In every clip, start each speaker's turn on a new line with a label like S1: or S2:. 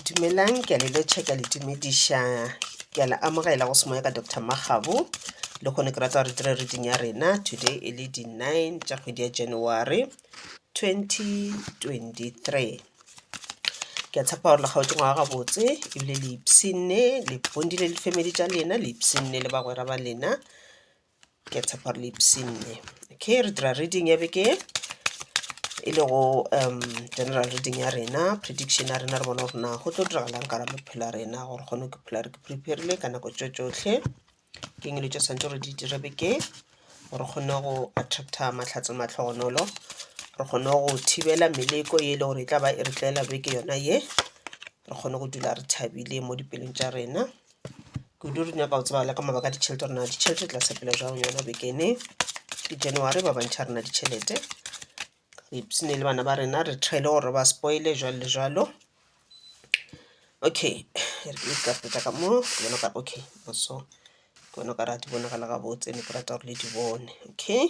S1: dumelang ke a le letšha ke a le tumediša ke a le amogela go semoya ka dr magabo le kgone ke rata gore dire reading ya rena today e le di-nine tša kgwedi ya january 2023 ke a tshepa gore lekgaotse ngwaga gabotse ebile le ipsinne le bondile le family tša lena le ipsinne le bagwera ba lena ke a tshepa re le ipshinne okay re dira reading ya beke e le go um general reading ya rena prediction ya rena re bona gore na go tlo diragalang ka ra maphelo a rena gore kgone ke phela re ke preparile ka nako tso tsotlhe ke eng le tso santse re di dire beke gore kgone go attracta matlhatse matlhogonolo re kgone go thibela meleko ye e le gore e tla ba e re tlela beke yona ye re kgone go dula re thabile mo dipelong tša rena kudu re nyaka go tseba le ka mabaka a ditšhelete rena ditšhelete tla sepela jang yona bekene ke january ba bantšha rena ditšhelete re ipsene le bana ba rena re tšhaile gore ba spoile jalo le jalo okay ka feta ka mo ke bona ka okay so ke bona ka ra di bonagala gabotse ne ke rata gore le di bone okay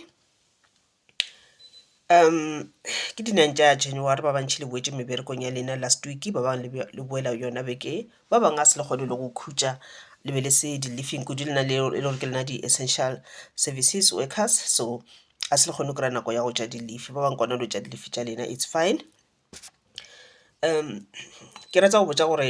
S1: Ke di nine tša January ba bantši le boetše meberekong ya lena last week ba bangwe le le boela yona beke e, ba bangwe ga se le kgone le go khutša le be le se di leaving kudu lena le e le gore ke lena di essential services workers so ga se le kgone go kry-a nako ya go tša di leave ba bangwe gona le go tša di leave tša lena it's fine. Ke rata go botša gore.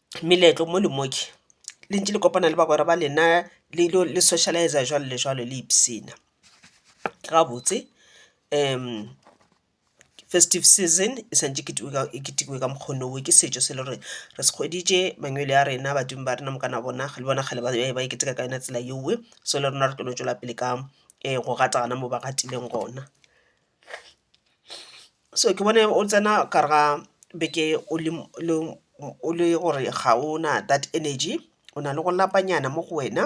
S1: meletlo mo le mo ke le ntše le kopana le bagwera ba lena le ilo le socialise jwalo le jwalo le ipshina. Gabotse festive season e swanetše e ketekwe ka mokgwa wo ke setšo se e le gore re se hweditše mangwele a rena badimo ba rena mokana bona le bona kgale ba be ba e keteka ka yona tsela yeo so le rena re tlo no tšwela pele ka go gata gona mo ba gatilego gona. So ke bone o tsena ka re ga beke o le o le gore ga o na that energy, o na le go lapanyana mo go wena.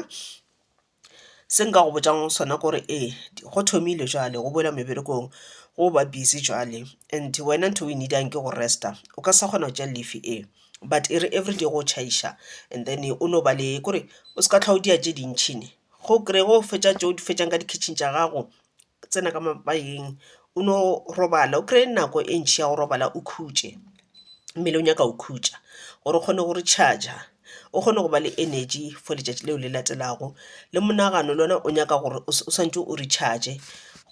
S1: Se nka go botšang sona ke gore ee, go thomile jwale go boelwa meberekong, go ba busy jwale and wena ntho e o e need-ang ke go rest-a. O ka se sa kgona go tšea leave e, but e re everyday go tšhaiša and then o no ba le, kore o se ka hlwa o dia tše dintšhi ne. Ge o kry-a ge o fetša tše o di fetšang ka di-kitchen tša gago, tsena ka mabakeng o no robala o kry-e nako e ntšhi ya go robala o khutše, mmele o nyaka go khutša gore o kgone go recharger o kgone go ba le energy for letšatši leo le latelago. Le monagano le ona o nyaka gore o swantšwe o recharge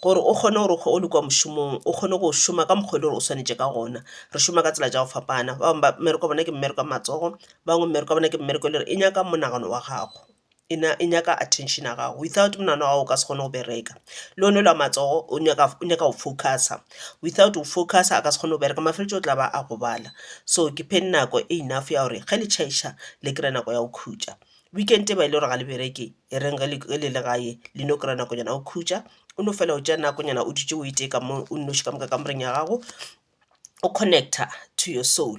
S1: gore o kgone gore ge o le kwa mošomong o kgone go šoma ka mokgwa e le gore o swanetše ka gona. Re šoma ka tsela tša go fapana, ba bangwe mmereko ya bona ke mmereko ya matsogo, ba bangwe mmereko ya bona ke mmereko e le gore e nyaka monagano wa gago. e na e nyaka attention ya gago without monana wa gago o ka se kgone go bereka le one la matsogo o nyaka o nyaka go focusa without go focusa a ka se kgone go bereka mafeletšo o tla ba a gobala so ke pheng nako e enough ya gore ge le chaiša le kry-e nako ya go khutša weekend e ba e le gore ga le bereke e reng ge le le gae le no kry-a nakonyana go khutša o no fela o tša nakonyana o dutše o e tee ka mo o nnoši ka moka kamoreng ya gago o connecta to your soul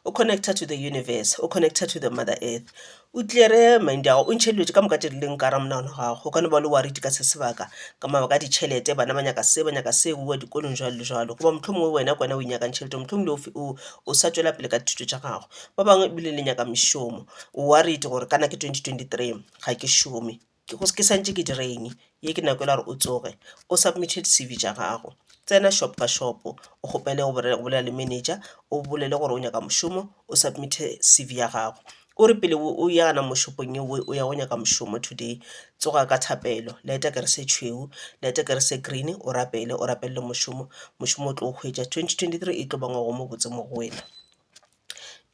S1: o connecta to the universe o connecta to the mother earth o tlere mind ya gago o ntšhe dilo tše ka moka tše di leng ka gare ga monagano wa gago o ka no ba o le worried ka se sebaka ka mabaka a ditšhelete bana ba nyaka se ba nyaka se o bowa dikolong jwalo le jwalo goba mohlomongwe wena ke wena o inyakang tšhelete mohlomongwe o f- o- o sa tšwela pele ka dithuto tša gago ba bangwe ebile le nyaka mešomo o worried gore kana ke 2023 ga ke šome Ke go, ke sa ntše ke dira eng? Ye ke nako yela ya gore o tsoge, o submit-e di C.V. tša gago. Tsena shop ka shop, o kgopele go bolela le manager, o bolele gore o nyaka mošomo, o submit-e C.V. ya gago. O re pele o ya gana mo shopong yeo o ya go nyaka mošomo today, tsoga ka thapelo, light-a kere se tšhweu, light-a kere se green, o rapele, o rapelele mošomo, mošomo o tlo o hwetša. Twenty twenty-three e tlo ba ngwaga o mobotse mo go wena.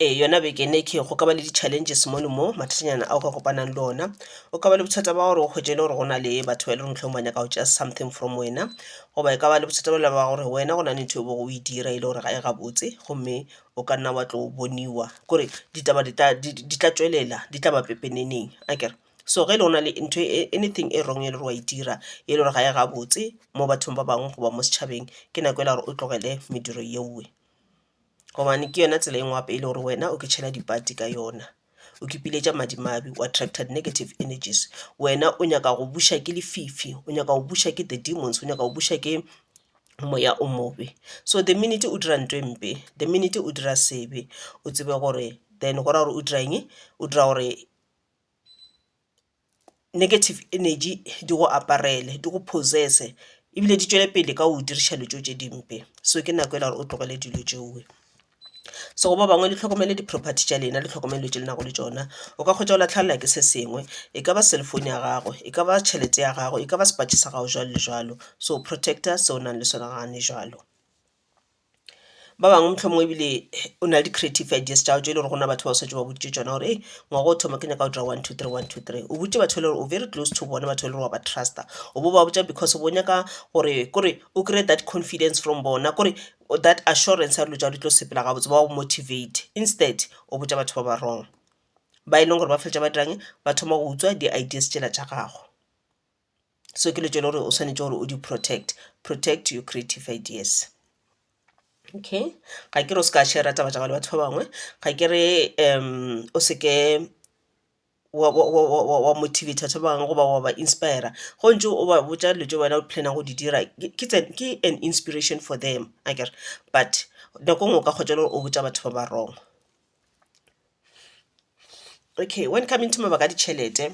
S1: Ee, yona beke ena e ke go ka ba le di-challenges mono mo, mathatanyana ao ka kopanang le ona. O ka ba le bothata ba gore o hwetše e le gore go na le batho ba e leng mohlomong ba nyaka go tšea something from wena, goba e ka ba le bothata bjalo ba gore wena go na le ntho e bego o e dira e le gore ga e gabotse gomme o ka nna wa tlo boniwa kore ditaba di tla di di tla tšwelela di tla ba pepeneneng akere. So ge e le go na le ntho e anything e wrong e le gore wa e dira e le gore ga e gabotse mo bathong ba bangwe goba mo setšhabeng, ke nako ela ya gore o tlogele mediro yeoe. gobane ke yona tsela e nngwe gape e le gore wena o kitšhela dipati ka yona o kipiletša madimabe o attracted negative energies wena o nyaka go buša ke lefifi o nyaka go buša ke the demons o nyaka go buša ke moya o mobe so the minute o dira ntho e mpe the minute o dira sebe o tsebe gore then go ra gore o dira eng o dira gore negative energy di go aparele di go possess-e ebile di tšwele pele ka go diriša dilo tšeo tše dimpe so ke nako e le ya gore o tlogele dilo tšeo. So go ba bangwe le hlokomele di property tša lena le hlokomele dilo tše le nago le tšona o ka hwetša o lahlelwa ke se sengwe e ka ba cell phone ya gago e ka ba tšhelete ya gago e ka ba sepatše sa gago jwalo le jwalo so protect-a se o nang le sona gane jwalo. Ba bangwe mohlomongwe ebile o na le di-creative ideas tša tšo e le gore gona batho ba o setse ba boditše tšona gore ee ngwaga o thoma ke nyaka go dira one two three, one two three. O boditše batho e le gore o very close to bone batho e le gore wa ba truster, o bo ba botša because o bo nyaka gore kore o kry-e that confidence from bona kore that assurance ya dilo tša gao di tlo sepela gabotse ba go motivate. Instead o botša batho ba ba wrong ba e leng gore ba feleletša ba dirang, ba thoma go utswa di-ideas tšela tša gago. so ke lo tšwele gore o swanetše gore o di protect protect your creative ideas okay ga ke re o se ka share taba tša le batho ba bangwe ga ke re um o se ke wa motivate batho ba bangwe goba wa ba inspire go ntse o ba botša dilo tše wena o planna go di dira ke an inspiration for them a kere but nako ngwe o ka kgotsa le gore o botša batho ba ba wrong okay when coming to mabaka a ditšhelete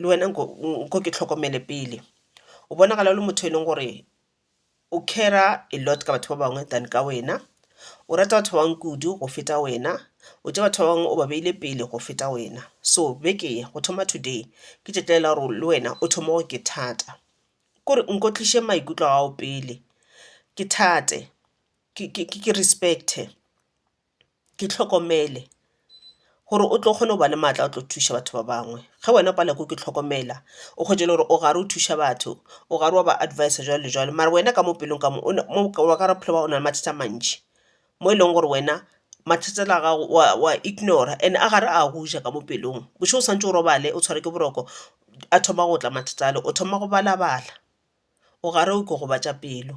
S1: le wena nko nko ke hlokomele pele. O bonagala o le motho e leng gore o care-ra a lot ka batho ba bangwe than ka wena. O rata batho ba bangwe kudu go feta wena, o tšea batho ba bangwe o ba beile pele go feta wena. So beke ye go thoma today ke tšetlela gore le wena o thoma gore ke thata. Ke gore nko tliše maikutlo a gago pele, ke thate, ke ke ke respect-e. ke hlokomele gore o tlo kgona go ba le maatla a tlo thuša batho ba bangwe ge wena o palelwa ke go ke hlokomela o hwetše e le gore o gare o thuša batho o gare wa ba adviser jwalo le jwalo mara wena ka mo pelong ka mo o na mo ka wa ka gore bophelo ba gago o na le mathata a mantši mo e leng gore wena mathata a gago wa wa ignora and a gare a go ja ka mo pelong bošego o swantšwe o robale o tshwarwe ke boroko a thoma go tla mathata ale o thoma go balabala o gare o ikogobatša pelo.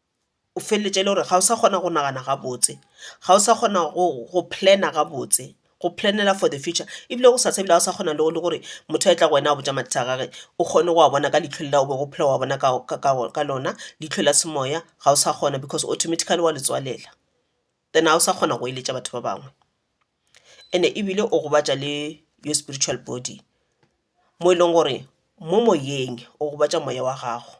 S1: o feleletša e le gore ga o sa kgona go nagana gabotse, ga o sa kgona go plan-a gabotse, go plan-ela for the future ebile go sasana ebile ga o sa kgona le gore motho a e tla go wena a go botša mathata a gage o kgone go a bona ka leitlho leo o bego o phela o a bona ka lona, leitlho la semoya ga o sa kgona because automatically wa le tswalela. Then ga o sa kgona go eletša batho ba bangwe and-e ebile o gobatša le your spiritual body mo e leng gore mo moyeng o gobatša moya wa gago.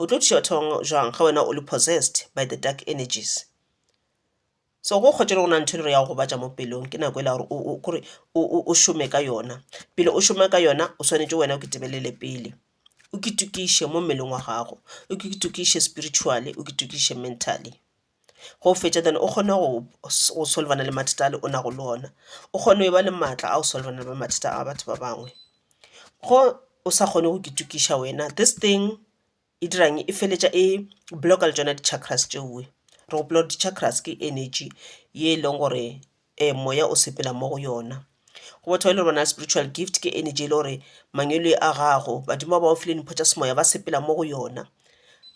S1: O tlo thuša batho ba bangwe jwang ge wena o le possessed by the dark energies? So go kgotše gore go na le ntho e le gore ya go gobatša mo pelong, ke nako e la gore o, o, kore o, o, o šome ka yona. Pele o šoma ka yona, o swanetše wena o kitebelele pele. O kitokiše mo mmeleng wa gago, o kitokiše spiritually, o kitokiše mentally. ge o fetša then o kgone go go solvana le mathata ale o nago le ona o kgone go ba le maatla a go solvana le mathata a batho ba bangwe ge o sa kgone go itokiša wena this thing e dirang e feleletša e block-a le tšona di chakras tšewe re gopola gore di chakras ke energy ye e leng gore e moya o sepela mo go yona. Go batho ba e le bona spiritual gift ke energy e le gore mangwele a gago, badimo ba ba go file dimpho tša semoya ba sepela mo go yona.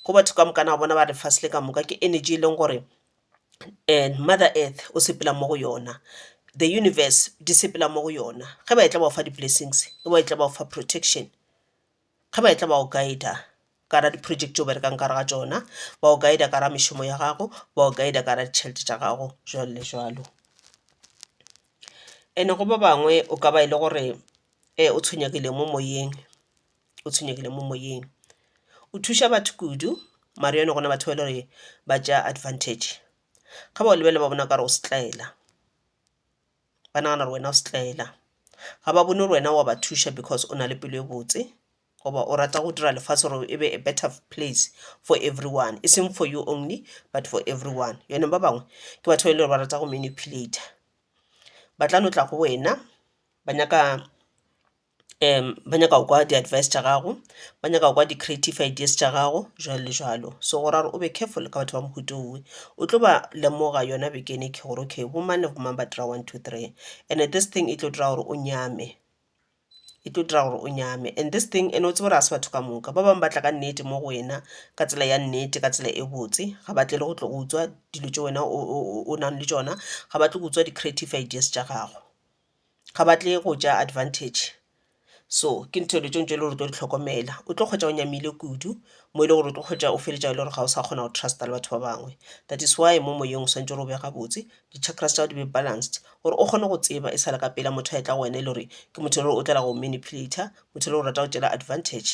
S1: Go batho ka moka na bona ba lefase le ka moka ke energy e leng gore mother earth o sepela mo go yona, the universe di sepela mo go yona. Ge ba etla ba go fa di-blessings e ba etla ba go fa protection. Ge ba etla ba go guide-a ka gare ga di-project tše o berekang ka gare ga tšona, ba go guide-a ka gare ga mešomo ya gago, ba go guide-a ka gare ga ditšhelete tša gago, jwalo le jwalo. And-e go ba bangwe o ka ba e le gore o tshwenyegile mo moyeng, o tshwenyegile mo moyeng. O thuša batho kudu mara yone go na le batho ba e le gore ba tšea advantage. Ge ba go lebelela ba bona o ka re o setlaela. ba nagana gore wena o setlaela ga ba bone gore wena wa ba thuša because o na le pelo e botse goba o rata go dira lefase gore e be a better place for everyone e seng for you only but for everyone yone ba bangwe ke batho ba e le gore ba rata go manipulator ba tla no tla go wena ba nyaka um ba nyaka go kwa di-advice tša gago, ba nyaka go kwa di-creative ideas tša gago jwalo le jwalo. So go ra gore o be careful ka batho ba mohuta o, o tlo ba lemoga yona bekeng e ke gore okay bo mang le bo mang ba dira one, two, three and-e this thing e tlo dira gore o nyame, e tlo dira gore o nyame. And this thing ene o tsebe gore ga se batho ka moka, ba bangwe ba tla ka nnete mo go wena ka tsela ya nnete ka tsela e botse, ga ba tle le go tlo go utswa dilo tše wena o nang le tšona, ga ba tle go utswa di-creative ideas tša gago. ga ba tle go ja advantage so ke ntho dilo tše ntši e le gore o tlo di hlokomela. O tlo hwetša o nyamile kudu mo e le gore o tlo hwetša o feleletša e le gore ga o sa kgona go trust-a le batho ba bangwe that is why mo moyeng o swanetše gore o be gabotse di chakras tša gago di be balanced gore o kgone go tseba e sa le ka pela motho a etla go wena e le gore ke motho e le gore o tlogela go go manipulator motho e le gore o rata go go tšeela advantage.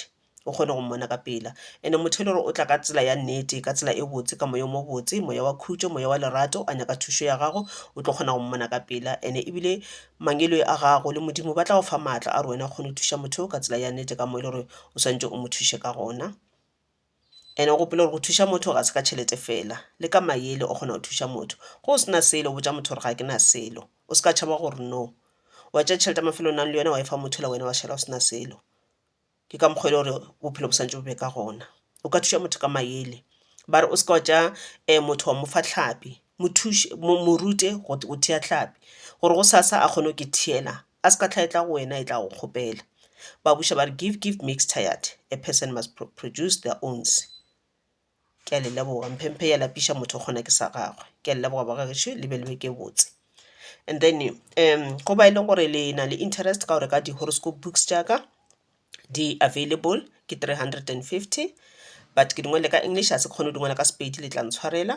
S1: o kgone go mmona ka pela ene motho e le gore o tla ka tsela ya nnete ka tsela e botse ka moya o mo botse moya wa khutšo moya wa lerato a nyaka thušo ya gago o tlo kgona go mmona ka pela ene ebile mangeloi a gago le modimo ba tla go fa maatla a re wena o kgone go thuša motho ka tsela ya nnete ka mo e le gore o swantse o mo thuše ka gona ene o gopole gore go thuša motho ga se ka tšhelete fela le ka mayele o kgona go thuša motho go o sena selo botša motho gore ga ke na selo o se ka tšhaba gore no wa tšea tšhelete ya mafelo o nang le yona wa e fa motho la wena wa šala o sena selo Ke ka mokgwa e le gore bophelo bo santše bo be ka gona. O ka thuša motho ka maele. Ba re o se ka wa tšea motho wa mo fa tlhapi, mo thuše, mo mo rute go go thea tlhapi gore gosasa a kgone go ke theela, a se ka hlwa e tla go wena e tla go kgopela. Ba buša ba re, Give, give makes tired, a person must produce their owns. Ke a le leboga. Mphemphe ya lapiša motho o kgona ke sa gagwe. Ke a le leboga ba ga gešo le be le be ke botse. And then um go ba e leng gore le na le interest ka go reka di horoscope books tša ka di available ke three hundred and fifty but ke di ngwalile ka English ga se ke kgone go di ngwala ka Sepedi le tla ntshwarela.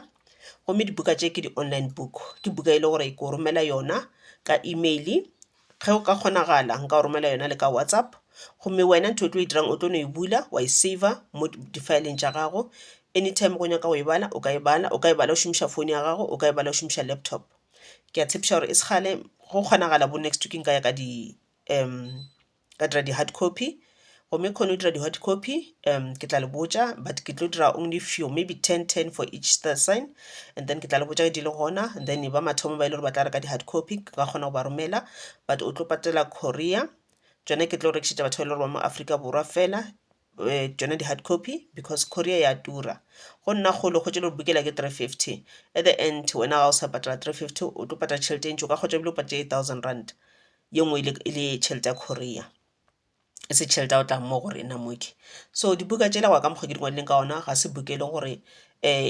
S1: Gomme dibuka tše ke di online book, ke buka e le gore ke go romela yona ka email Ge go ka kgonagala nka go romela yona le ka WhatsApp gomme wena ntho o tlo e dirang o tlo no e bula wa e saver mo difaeleng tša gago. Anytime ge o nyaka go e bala o ka e bala, o ka e bala o šomiša phone ya gago, o ka e bala o šomiša laptop. Ke a tshepiša gore e se kgale, ge go kgonagala bo next week nka ya ka di ka dira di-hard copy. gomme kgone o dira di-hot copy um ke tla le botša but ke tlo dira only few maybe ten ten for each star sign and then ke tla le botša di le gona and then ba mathomo ba e le gore ba tla reka di-hard copy ke ka kgona go ba romela but o tlo patela korea tsone ke tlo rekišetša batho ba e le gore ba mo aforika borwa fela eh, tsone di-hard copy because korea ya tura go nna kgolo kgotse le gore bukela ke three fifty at the end wena ga o sa patela three fifty o tlo patela tšhelete e ntši o ka kgotsa ebile o patela eight thousand rand ye nngwe e le e le tšhelete ya korea e se tšhelete ya go tla mo go rena mo ke. So dibuka tšela go ya ka mokgo ke di ngwadileng ka gona ga se buka e leng gore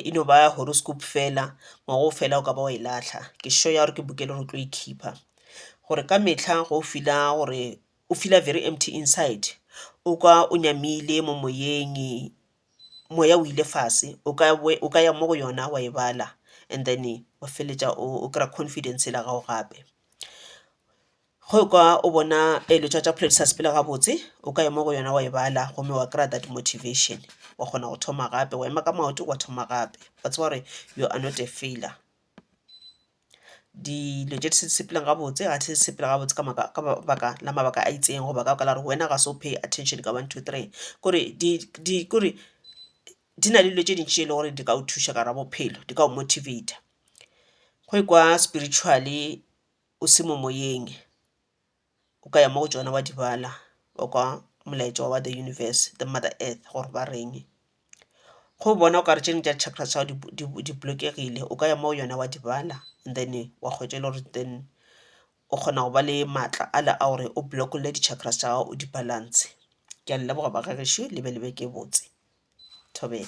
S1: e no ba horoscope fela ngwaga o fela o ka ba wa e lahla, ke sure ya gore ke buka e leng gore o tlo e keeper gore ka metlha ge o feel-a gore o feel-a very empty inside o kwa o nyamile mo moyeng, moya o ile fase o ka bo o ka ya mo go yona wa e bala and then wa feleletša o kry-a confidence la gago gape. Ge o ka o bona eletšwa tša Pholedi sa Sepela gabotse, o ka ya mo go yona wa e bala gomme wa kry-a that motivation. Wa kgona go thoma gape, wa ema ka maoto wa thoma gape. Wa tseba gore you are not a failure. Dilo tše di se di sepelang gabotse ga di se di sepela gabotse ka baka la mabaka a itseng goba ka baka la gore wena ga se o pay attention ka one, two, three. Kore kore di na le dilo tše dintši tše e leng gore di ka o thuša ka gare ga bophelo, di ka go motivate-a. Go ikwa spiritually o se mo moyeng, o ka ya mo go tšona wa di bala, wa kwa molaetša wa the universe, the mother earth gore ba reng. Go bona o ka re tše dingwe tša di-chakra tsa gago di, di, di blokegile, o ka ya mo go yona wa di bala and then wa hwetša e le gore then o kgona go ba le maatla ale a gore o block-olle di-chakras tša gago o di balance. Ke a le leboga ba ga gešo, le be le beke e botse. Thobela.